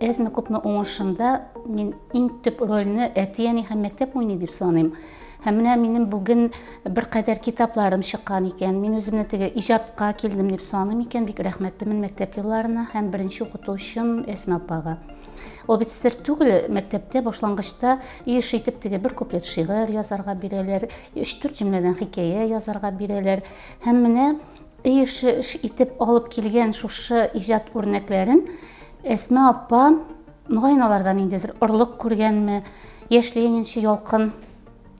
Әзме күпме уңышында мин иң төп рольне әти-әни һәм мәктәп уйный дип саныйм. Һәм менә минем бүген бер кадәр китапларым чыккан икән. Мин үземне теге иҗатка килдем дип саныйм икән. Бик рәхмәтлемен мәктәп елларына һәм беренче укытучым Әсма апага. Ул бит сер түгел, мәктәптә башлангычта еш итеп теге бер куплет шигырь язарга бирәләр, өч-дүрт җөмләдән хикәя язарга бирәләр. Һәм менә Өй эше итеп алып килгән шушы иҗат үрнәкләрен Әсма апа, мөгаен, аларда ниндидер орлык күргәнме, Яшь Ленинчы Ялкын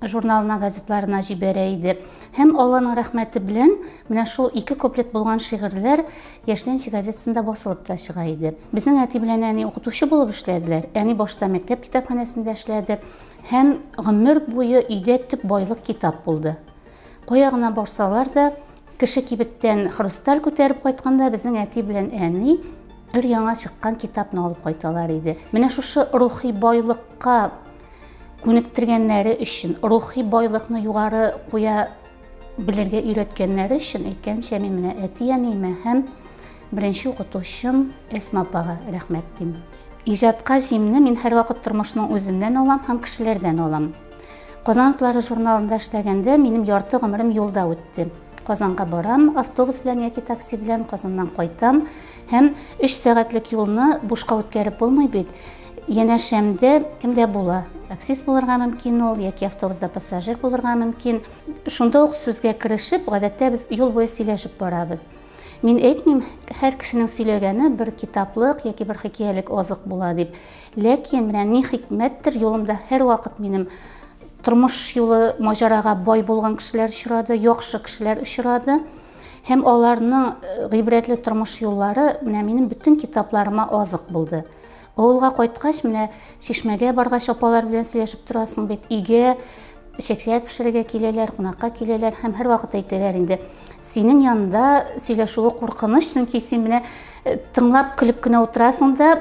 журналына, газетларына җибәрә иде. Һәм Алланың рәхмәте белән менә шул ике куплет булган шигырьләр Яшь Ленинчы газетасында басылып та чыга иде. Безнең әти белән әни укытучы булып эшләделәр. Әни башта мәктәп китапханәсендә эшләде һәм гомер буе өйдә төп байлык китап булды. Кая гына барсалар да, Кеше кибеттән хрусталь күтәреп кайтканда безнең әти белән әни өр яңа чыккан китапны алып кайталар иде. Менә шушы рухи байлыкка күнектергәннәре өчен, рухи байлыкны югары куя белергә өйрәткәннәре өчен әйткәнчә мин менә әти-әниемә һәм беренче укытучым Әсма апага рәхмәт дим. Иҗатка җимне мин һәрвакыт тормышның үзеннән алам һәм кешеләрдән алам. Казан атлары журналында эшләгәндә минем ярты гомерем юлда үтте. Казанга барам, автобус белән яки такси белән Казаннан кайтам һәм 3 сәгатьлек юлны бушка үткәреп булмый бит. Янәшәмдә кемдә була? Таксист булырга мөмкин ул яки автобуста пассажир булырга мөмкин. Шунда ук сүзгә керешеп, гадәттә без юл буе сөйләшеп барабыз. Мин әйтмим, һәр кешенең сөйләгәне бер китаплык яки бер хикәялек азык була дип. Ләкин менә ни хикмәттер, юлымда һәрвакыт минем тормыш юлы маҗарага бай булган кешеләр очрады, яхшы кешеләр очрады. Һәм аларның э, гыйбрәтле тормыш юллары менә минем бөтен китапларыма азык булды. Авылга кайткач, менә чишмәгә баргач, апалар белән сөйләшеп торасың бит, өйгә чәкчәк пешерергә киләләр, кунакка киләләр һәм һәрвакыт әйтәләр инде, синең янында сөйләшүе куркыныч, чөнки син менә э, тыңлап, көлеп кенә утырасың да,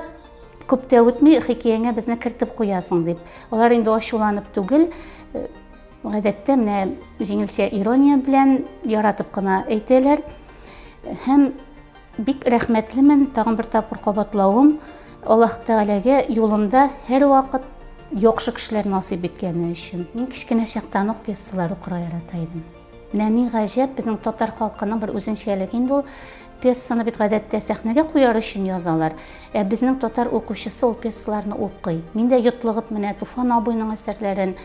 Күп тә үтми, хикәяңә безне кертеп куясың, дип. Алар инде ачуланып түгел, э, гадәттә менә җиңелчә ирония белән яратып кына әйтәләр. Һәм бик рәхмәтлемен тагын бер тапкыр кабатлавым Аллаһ Тәгаләгә юлымда һәрвакыт яхшы кешеләр насыйп иткәне өчен. Мин кечкенә чактан ук пьесалар укырга ярата идем. Менә ни гаҗәп, безнең татар халкының бер үзенчәлеге инде ул. Пьесаны бит гадәттә сәхнәгә куяр өчен язалар. Ә безнең татар укучысы ул пьесаларны укый. Мин дә йотлыгып менә Туфан абыйның әсәрләрен,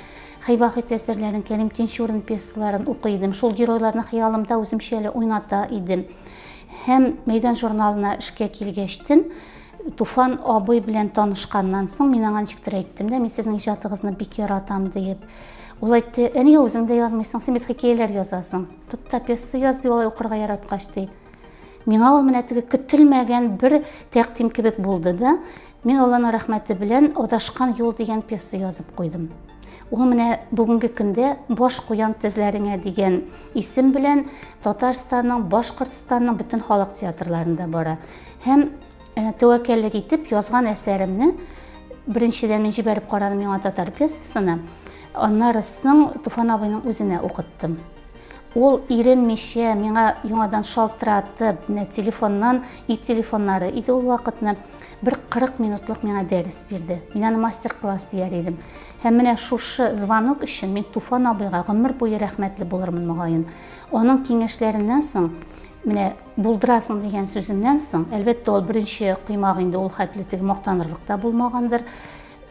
Хәйвахит әсәрләрен, Кәрим Тинчурин пьесаларын укый идем. Шул геройларны хыялымда үземчә әле уйната идем. Һәм мәйдан журналына эшкә килгәчтен, Туфан абый белән танышканнан соң, мин аңа ничектер әйттем дә, мин сезнең иҗатыгызны бик яратам диеп. Ул әйтте, ә нигә үзең дә язмыйсың, син бит хикәяләр язасың. Тот та пьеса яз, ди, алай укырга яраткач, ди. Миңа ул менә теге көтелмәгән бер тәкъдим кебек булды да, мин Алланың рәхмәте белән Адашкан юл дигән пьеса язып куйдым. Ул менә бүгенге көндә Баш куян тезләреңә дигән исем белән Татарстанның, Башкортстанның бөтен халык театрларында бара. Һәм э, тәвәккәллек итеп язган әсәремне беренчедән мин җибәреп карадым миңа татар пьесасына, аннары соң Туфан абыйның үзенә укыттым. Ул иренмичә миңа яңадан шалтыратып, менә телефоннан, и телефоннары иде ул вакытны, бер 40 минутлык миңа дәрес бирде. Мин аны мастер-класс дияр идем. Һәм менә шушы звонок өчен мин Туфан абыйга гомер буе рәхмәтле булырмын мөгаен. Аның киңәшләреннән соң менә Булдырасың дигән сүзеннән соң, әлбәттә, ул беренче коймак инде ул хәтле теге мактанырлык та булмагандыр.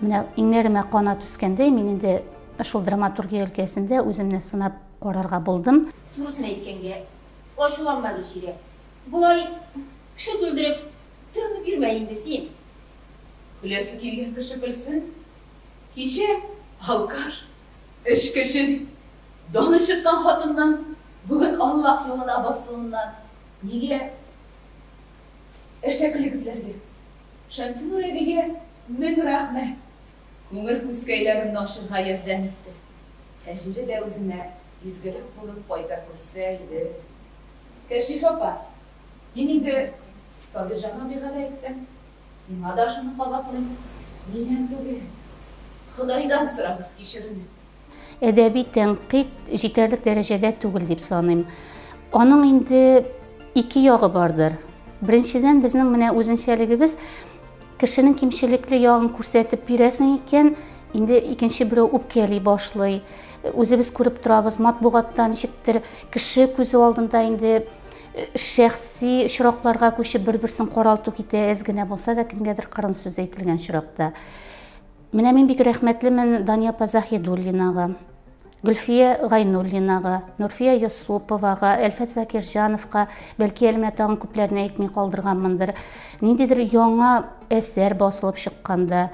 Менә иңнәремә канат үскәндәй, мин инде шул драматургия өлкәсендә үземне сынап карарга булдым. Турысын әйткәнгә, ачуланма, Гөлчирә. Болай кеше түлдереп, төренеп йөрмә инде син. Көләсе килгән кеше көлсен. Кичә алкаш Эш кеше, даны чыккан хатынның бүген Аллаһ юлына басуыннан нигә әшәкелек эзләргә? Шәмсинур әбигә мең рәхмәт, күңел күзкәйләреңне ачырга ярдәм итте. Әҗере дә үзенә изгелек булып кайта күрсә иде. Кәшиф апа, мин инде Сабирҗан абыйга да әйттем. Сиңа да шуны кабатлыйм, миннән түгел, Ходайдан сорагыз кичерүне. Әдәби тәнкыйть җитәрлек дәрәҗәдә түгел дип саныйм. Аның инде ике ягы бардыр. Беренчедән, безнең менә үзенчәлегебез кешенең кимчелекле ягын күрсәтеп бирәсең икән, инде икенче берәү үпкәли башлый. Үзебез күреп торабыз, матбугатта ничектер кеше күзе алдында инде шәхси очракларга күчеп бер берсен каралту китә әз генә булса да кемгәдер кырын сүз әйтелгән очракта менә мин бик рәхмәтлемен дания апа заһидуллинага гөлфия гайнуллинага нурфия йосуповага әлфәт закирҗановка бәлки әле менә тагын күпләрне әйтми калдырганмындыр ниндидер яңа әсәр басылып чыкканда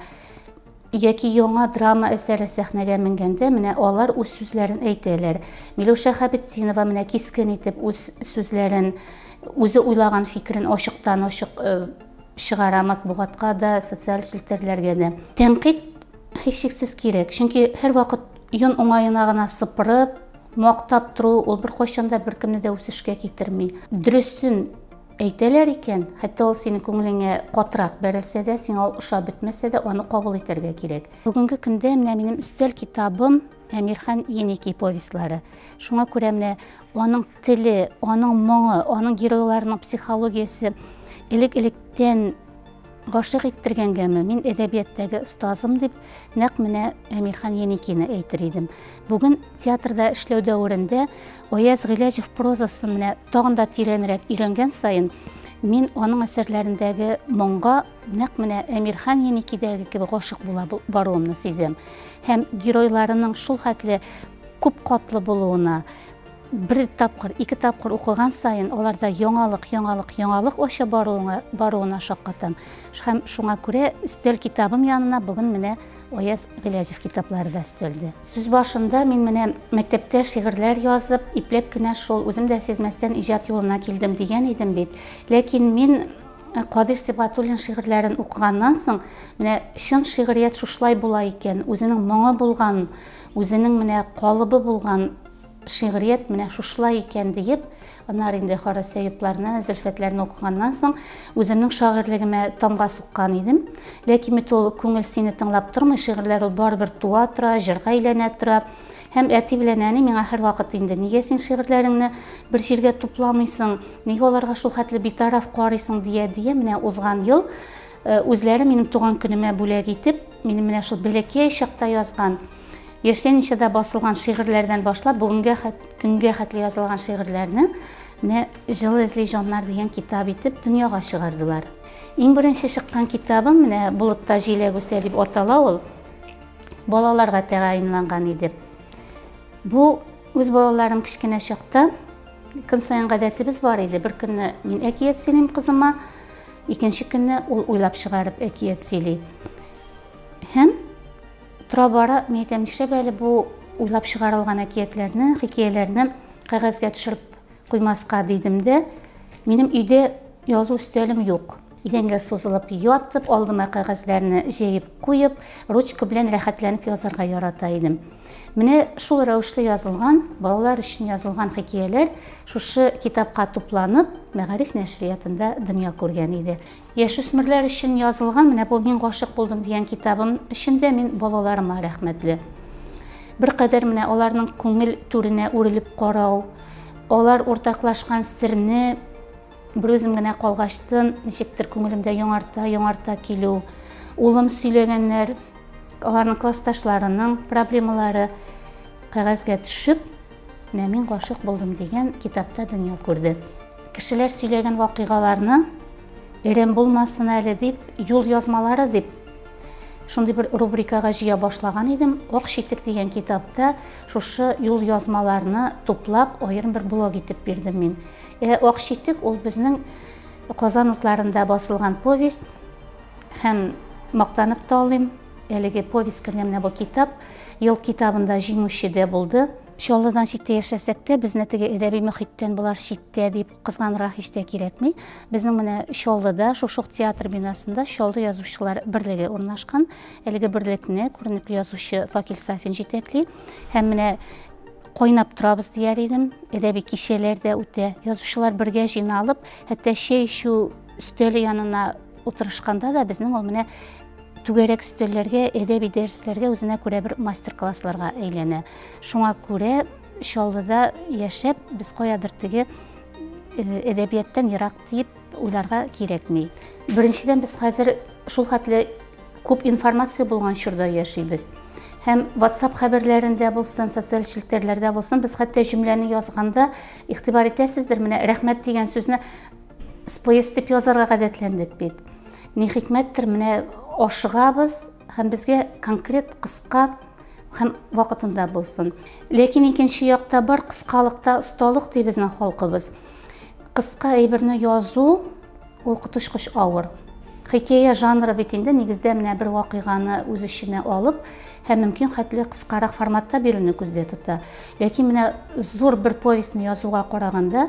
Яки яңа драма әсәре сәхнәгә менгәндә менә алар үз сүзләрен әйтәләр. Миләүшә Хәбетдинова менә кискен итеп үз сүзләрен, үзе уйлаган фикерен ачыктан-ачык э, чыгара матбугатка да, социаль челтәрләргә дә. Тәнкыйть һичшиксез кирәк, чөнки һәрвакыт йон уңаена гына сыпырып, мактап тору ул беркайчан да беркемне дә үсешкә китерми. Дөресен Әйтәләр икән, хәтта ул синең күңелеңә катырак бәрелсә дә, сиңа ул ошап бетмәсә дә, аны кабул итәргә кирәк. Бүгенге көндә менә минем өстәл китабым Әмирхан Еники повестьлары. Шуңа күрә менә аның теле, аның моңы, аның геройларының психологиясе элек-электән Гашыйк иттергәнгәме, мин әдәбияттәге остазым дип, нәкъ менә Әмирхан Еникины әйтер идем. Бүген театрда эшләү дәверендә Аяз Гыйләҗев прозасын менә тагын да тирәнрәк өйрәнгән саен, мин аның әсәрләрендәге моңга нәкъ менә Әмирхан Еникидәге кебек гашык була баруымны сизәм. Һәм геройларының шул хәтле күп катлы булуына, бер тапкыр, ике тапкыр укыган саен аларда яңалык, яңалык, яңалык ача баруына, баруына шаккатам. Һәм шуңа күрә өстәл китабым янына бүген менә Аяз Гыйләҗев китаплары да өстәлде. Сүз башында мин менә мәктәптә шигырьләр язып, ипләп кенә шул үзем дә сизмәстән иҗат юлына килдем дигән идем бит. Ләкин мин э, Кадир Сибатуллин шигырьләрен укыганнан соң, менә чын шигърият шушылай була икән, үзенең моңы булган, үзенең менә калыбы булган шигърият менә шушылай икән диеп, аннары инде Харис Әюпларны, Зөлфәтләрне укыганнан соң, үземнең шагыйрьлегемә тамга суккан идем. Ләкин бит ул күңел сине тыңлап тормый, шигырьләр ул барыбер туа тора, җырга әйләнә тора. Һәм әти белән әни миңа һәрвакыт инде нигә син шигырьләреңне бер җиргә тупламыйсың, нигә аларга шул хәтле битараф карыйсың дия дия менә узган ел э, үзләре минем туган көнемә бүләк итеп, минем менә шул бәләкәй чакта язган Яшьләничәдә басылган шигырьләрдән башлап, бүгенге көнгә хәтле язылган шигырьләрне менә Жыл эзли җаннар дигән китап итеп дөньяга чыгардылар. Иң беренче чыккан китабым менә Болытта җиләк үсә дип атала ул. Балаларга тәгаенланган иде. Бу үз балаларым кечкенә чакта көн саен гадәтебез бар иде. Бер көнне мин әкият сөйлим кызыма, икенче көнне ул уйлап чыгарып әкият сөйли. Һәм Тора-бара мин әйтәм, нишләп әле бу уйлап чыгарылган әкиятләрне, хикәяләрне кәгазьгә төшереп куймаска дидем дә, минем өйдә язу өстәлем юк. Идәнгә сузылып ятып, алдыма кәгазьләрне җәеп куеп, ручка белән рәхәтләнеп язарга ярата идем. Менә шул рәвешле язылган, балалар өчен язылган хикәяләр шушы китапка тупланып, Мәгариф нәшриятында дөнья күргән иде. Яшүсмерләр өчен язылган менә бу Мин гашык булдым дигән китабым өчен дә мин балаларыма рәхмәтле. Беркадәр менә аларның күңел түренә үрелеп карау, алар уртаклашкан серне берүзем генә калгачтын ничектер күңелемдә яңарта яңарта килү улым сөйләгәннәр аларның классташларының проблемалары кәгазьгә төшеп менә мин гашык булдым дигән китапта дөнья күрде Кешеләр сөйләгән вакыйгаларны Эрем булмасын әле дип, юл язмалары дип шундый бер рубрикага җыя башлаган идем. Ак читек дигән китапта шушы юл язмаларны туплап, аерым бер блог итеп бирдем мин. Э, Ак читек ул безнең Казан утларында басылган повесть һәм мактанып та алыйм, әлеге повесть кергән менә бу китап, ел китабында җиңүче дә булды. Чаллыдан читтә яшәсәк тә, безне теге әдәби мөхиттән болар читтә дип кызганырга һич тә кирәкми. Безнең менә Чаллыда, шушы ук театр бинасында Чаллы язучылар берлеге урнашкан. Әлеге берлекне күренекле язучы Факил Сафин җитәкли. Һәм менә кайнап торабыз дияр идем. Әдәби кичәләр дә үтә. Язучылар бергә җыйналып, хәтта чәй эчү өстәле янына Утырышканда да безнең ул менә түгәрәк өстәлләргә, әдәби дәресләргә үзенә күрә бер мастер-классларга әйләнә. Шуңа күрә Чаллыда яшәп, без каядыр теге әдәбияттан ерак дип уйларга кирәкми. Беренчедән без хәзер шул хәтле күп информация булган чорда яшибез. Һәм WhatsApp хәбәрләрендә булсын, социаль челтәрләрдә булсын, без хәтта җөмләне язганда игътибар итәсездер, менә рәхмәт дигән сүзне Споест дип язарга гадәтләндек бит. Ни хикмәттер, менә ашыгабыз һәм безгә конкрет кыска һәм вакытында булсын. Ләкин икенче якта бар кыскалыкта осталык ди безнең халкыбыз. Кыска әйберне язу ул коточкыч авыр. Хикәя жанры бит инде нигездә менә бер вакыйганы үз эченә алып һәм мөмкин хәтле кыскарак форматта бирүне күздә тота. Ләкин менә зур бер повестьны язуга караганда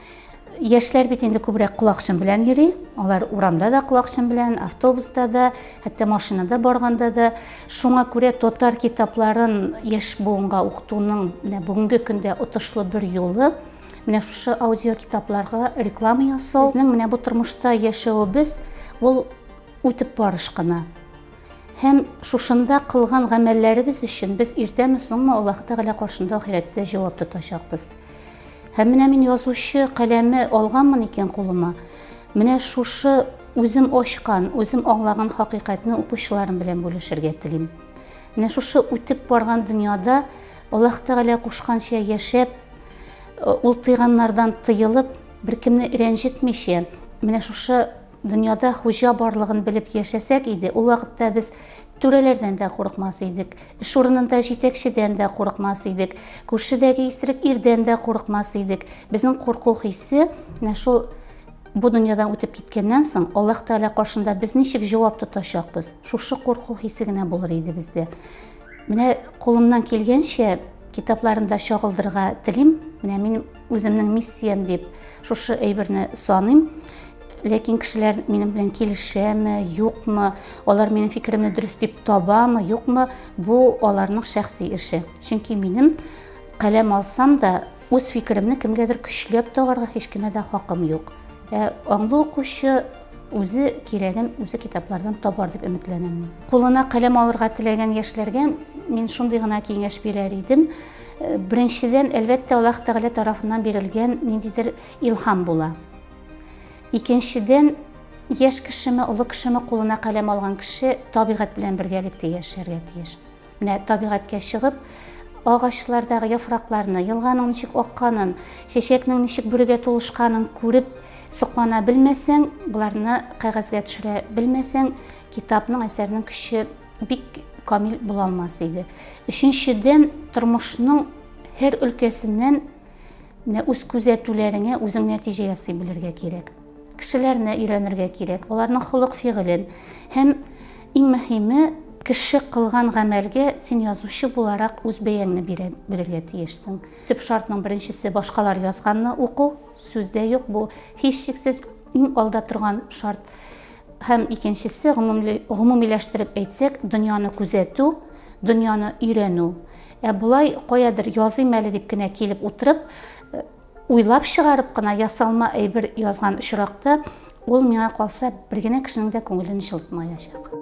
Яшьләр бит инде күбрәк колакчын белән йөри. Алар урамда да колакчын белән, автобуста да, хәтта машинада барганда да. Шуңа күрә татар китапларын яшь буынга укытуның менә бүгенге көндә отышлы бер юлы менә шушы аудио китапларга реклама ясау. Безнең менә бу тормышта яшәвебез ул үтеп барыш кына. Һәм шушында кылган гамәлләребез өчен без иртәме соңмы Аллаһ Тәгалә каршында ахирәттә җавап тотачакбыз. Һәм менә мин язучы каләме алганмын икән кулыма, менә шушы үзем ачкан, үзем аңлаган хакыйкатьне укучыларым белән бүлешергә телим. Менә шушы үтеп барган дөньяда Аллаһ Тәгалә кушканча яшәп, э, ул тыйганнардан тыелып, беркемне рәнҗетмичә, менә шушы Дөньяда хуҗа барлыгын белеп яшәсәк иде, ул вакытта без түрәләрдән дә курыкмас идек, эш урынында җитәкчедән дә курыкмас идек, күршедәге исерек ирдән дә курыкмас идек. Безнең курку хисе менә шул бу дөньядан үтеп киткәннән соң Аллаһ Тәгалә каршында без ничек җавап тотачакбыз? Шушы курку хисе генә булыр иде бездә. Менә кулымнан килгәнчә китапларында чагылдырга телим. Менә мин үземнең миссиям дип шушы әйберне саныйм. ләкин кешеләр минем белән килешәме юкмы алар минем фикеремне дөрес дип табамы юкмы бу аларның шәхси эше чөнки минем каләм алсам да үз фикеремне кемгәдер көчләп тагарга һич кенә дә хакым юк ә аңлы укучы үзе кирәген үзе китаплардан табар дип өметләнәм кулына каләм алырга теләгән яшьләргә мин шундый гына киңәш бирәр идем э, беренчедән әлбәттә аллаһ тәгалә тарафыннан бирелгән ниндидер илһам була Икенчедән, яшь кешеме, олы кешеме кулына каләм алган кеше табигать белән бергәлектә яшәргә тиеш. Менә табигатькә чыгып, агачлардагы яфракларны, елганың ничек акканын, чәчәкнең ничек бүрегә тулышканын күреп соклана белмәсәң, боларны кәгазьгә төшерә белмәсәң, китапның, әсәрнең көче бик камил була алмас иде. Өченчедән, тормышның һәр өлкәсеннән Менә үз күзәтүләреңә үзең нәтиҗә ясый белергә кирәк. Кешеләрне өйрәнергә кирәк, аларның холык-фигылен һәм иң мөһиме, кеше кылган гамәлгә син язучы буларак үз бәяңне бирә белергә тиешсең. Төп шартның беренчесе башкалар язганны уку, сүз дә юк, бу һичшиксез иң алда торган шарт. Һәм икенчесе, гомумиләштереп әйтсәк, дөньяны күзәтү, дөньяны өйрәнү. Ә болай каядыр языйм әле дип кенә килеп утырып, э, уйлап чыгарып кына ясалма әйбер язган очракта, ул миңа калса бер генә кешенең дә күңелен җылытмаячак.